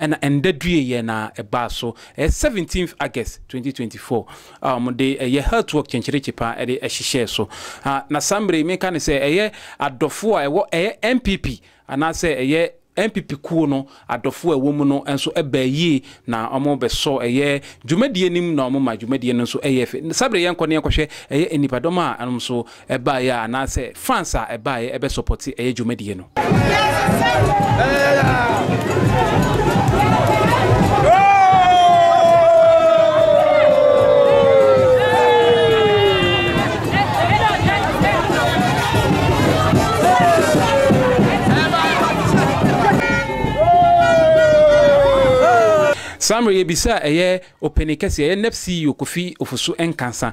Ɛna ɛnda due yɛ na ɛbaa so ɛyɛ seventeenth August twenty twenty four a wɔn de ɛyɛ health work kyenkyerekye pa ɛde ɛhyehyɛɛ so a na saa mmere yi me nka no sɛ ɛyɛ adɔfoɔ a ɛwɔ ɛyɛ NPP anaa sɛ ɛyɛ NPP kuo no adɔfoɔ a ɛwɔ mu no nso ɛbaa yie na wɔn bɛ sɔ ɛyɛ dwumadie no mu na wɔn ma dwumadie no nso ɛyɛɛ fɛ saa bere yɛn kɔ ne yɛn kɔ hwɛ ɛyɛ nnipadɔm a ɛnom nso ɛbaeɛ a anaasɛ fans a ɛbaeɛ ɛbɛ sɔpɔte ɛyɛ dwumadie no. Saa mmerɛ yɛbisa ɛyɛ ɔpanin kɛseɛ ɛyɛ nep CEO Kofi Ofosu Nkansah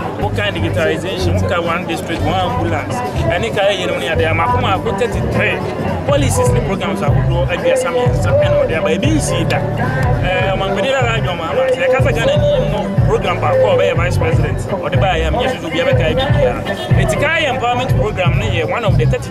Wokan digitalization, woka one district, one ambulance, ɛne ka ɛyɛ no ne adeɛ ama ko maako 33 policies ne programs ahodoɔ aduasa mmiɛnsa ɛna ɔde aba ebi nsii da ɔmampanin eh, nana adwuma ama sɛ yɛka sɛ ghana ni no program baako a ɔbɛyɛ vice president ɔde baayɛ a menyɛ susu bia bɛka bi biara ɛti ka yɛ empowerment program no yɛ one of the 30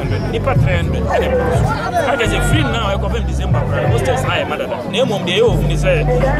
Nnipa pɛn do na ɛkɔɔ so. Ɛkyerɛ sɛ firi nna a ɛkɔpem December koraa no, hostels no ayɛ ma dada. Na mmom deɛ ɛyɛ ohu ne sɛ,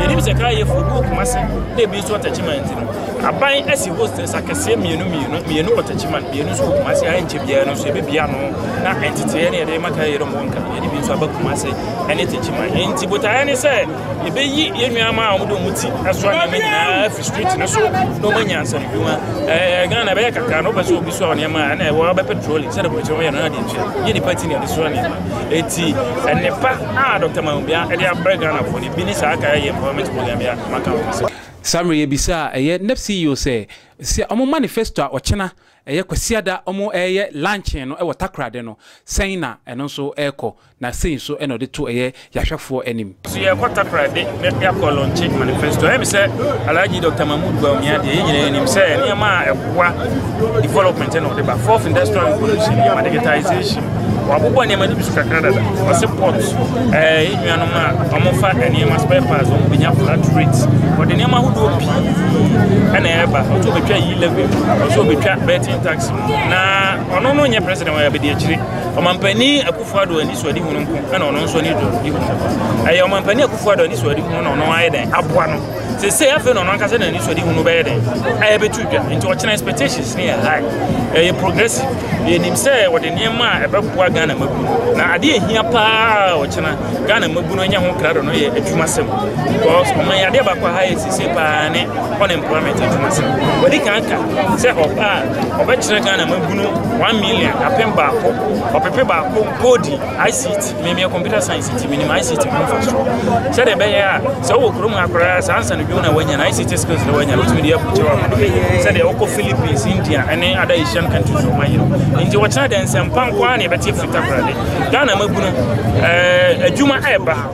yɛnim sɛ kra yɛ furu gu Kumasi na ebi nso wɔ Techiman nti no, aban asi hostels akɛseɛ mmienu mmienu, mmienu wɔ Techiman, mmienu nso wɔ Kumasi a ɛnkyɛ biara no nso yɛbɛbie ano na nteteeɛ ne yɛde rema kra yeinom wɔ Nkran, yɛde bi nso aba Kumasi ne Techiman. Enti botaeɛ ne sɛ. Yɛbɛyi yɛn nuammaa a wɔde wɔn ti asoa nneɛma nyinaa afiri street no so na wɔanya nsɛmdwuma. Ɛɛ Ghana bɛyɛ kakra no wopɛ sɛ obi soa nneɛma a ɛna ɛwɔ abɛ petroleum sɛdeɛ aburokyerɛ wɔyɛ no na adeɛ ntua. Nyɛ nipa ti na yɛde soa nneɛma. Eti nnepa a Dɔkta Mawubia de abrɛ Ghanafoɔ no bi ne saa Kaya Yɛ Empowerment Program yi a maka ho asɛm. Saa mmerɛ yi yɛbisa a ɛyɛ NEPP CEO sɛ sɛ wɔn manifesto a ɔkyena, ɛyɛ Kwasiada wɔn ɛɛyɛ luncheon no ɛwɔ Takoradi no sɛn na ɛno nso ɛɛkɔ. Na sei nso na ɔde to ɛyɛ yahwɛfoɔ anim. So yɛrekɔ Takoradi Bɛpia Kɔlɔn Change Manifesto? Ɛyɛ me sɛ Alhaji Doctor Mahmood Bawumia deɛ yɛn nyinaa nim sɛ nneɛma a ɛboa development na ɔde ba. Fourth Industrial Revolution yɛ ma digitization. Wɔabobɔ nneɛma no bi so kakra dada. Ɔse port, ɛɛ yɛn nuanom a wɔfa nneɛma spare parts wɔn bɛnya flat rate. Ɔde nneɛma ahodoɔ pii na ɛreba. Ɔsɛ ɔbɛtwa yi levy, ɔsɛ ɔbɛtwa betting tax. Na ɔno no nyɛ president wɔn abɛdi akyire. Ɔmampanin Akufo-Addo anisoadehunu nko na ɔno nso ani dɔ di ho. Ɛyɛ Ɔmampanin Akufo-Addo anisoadehunu na ɔno ayɛ dɛn aboa no. Sesei afei na ɔno ankasa na anisoadehunu no bɛyɛ dɛn ayɛ bɛtu dwa. Nti ɔkyena expectations no yɛ high. Ɛyɛ progressive. Yɛnim sɛ ɔde nneɛma a ɛbɛboa Ghana mmabunu. Na adeɛ a ɛhia paa a ɔkyena Ghana mmabunu anya ho krado no yɛ adwumasɛm. Because ɔman yi adeɛ baako a high sesei paa ne unemployment adwumasɛm. Wadi kan aka sɛ ɔbaa Wɔbɛkyerɛ Ghana mmabunu one million, apem baako, ɔpepe baako, koodi ICT. Meme computer science nti menim ICT ho mfasoɔ. Sɛdeɛ ɛbɛyɛ a sɛ wowɔ kurom ha koraa saa nsa no dwom na wanya no ICT skills na wanya no wotumi de abukyerɛ wɔ amano yi. Sɛdeɛ wokɔ Philippines, India ne ada Asian countries wɔn ayɛ no. Nti wɔkyerɛ dɛ nsɛmpa nko ara na yɛbɛte afiri Takoradi. Ghana mmabunu ɛɛ adwuma ɛɛba.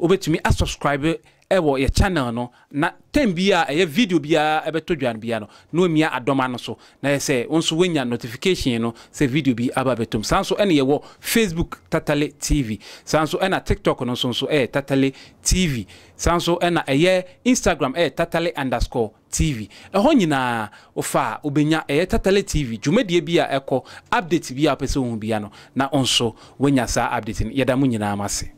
Wobɛtumi a subscribe wɔ yɛ channel no na time biara a ɛyɛ video biara bɛtɔ dwa no biara no na wamia adɔma no so na yɛ sɛ wo nso wanya notification no sɛ video bi aba bɛtom. Saa nso na yɛwɔ Facebook Tatale TV. Saa nso na TikTok no nso nso ɛyɛ Tatale TV. Saa nso na ɛyɛ Instagram ɛyɛ Tatale underscore TV. Ɛhɔ nyinaa wofa a wobɛnya ɛyɛ Tatale TV dwumadie bi a ɛkɔ, update bi a wopɛ sɛ wohu biara no na wo nso wanya saa update no. Yɛda mo nyinaa mo ase.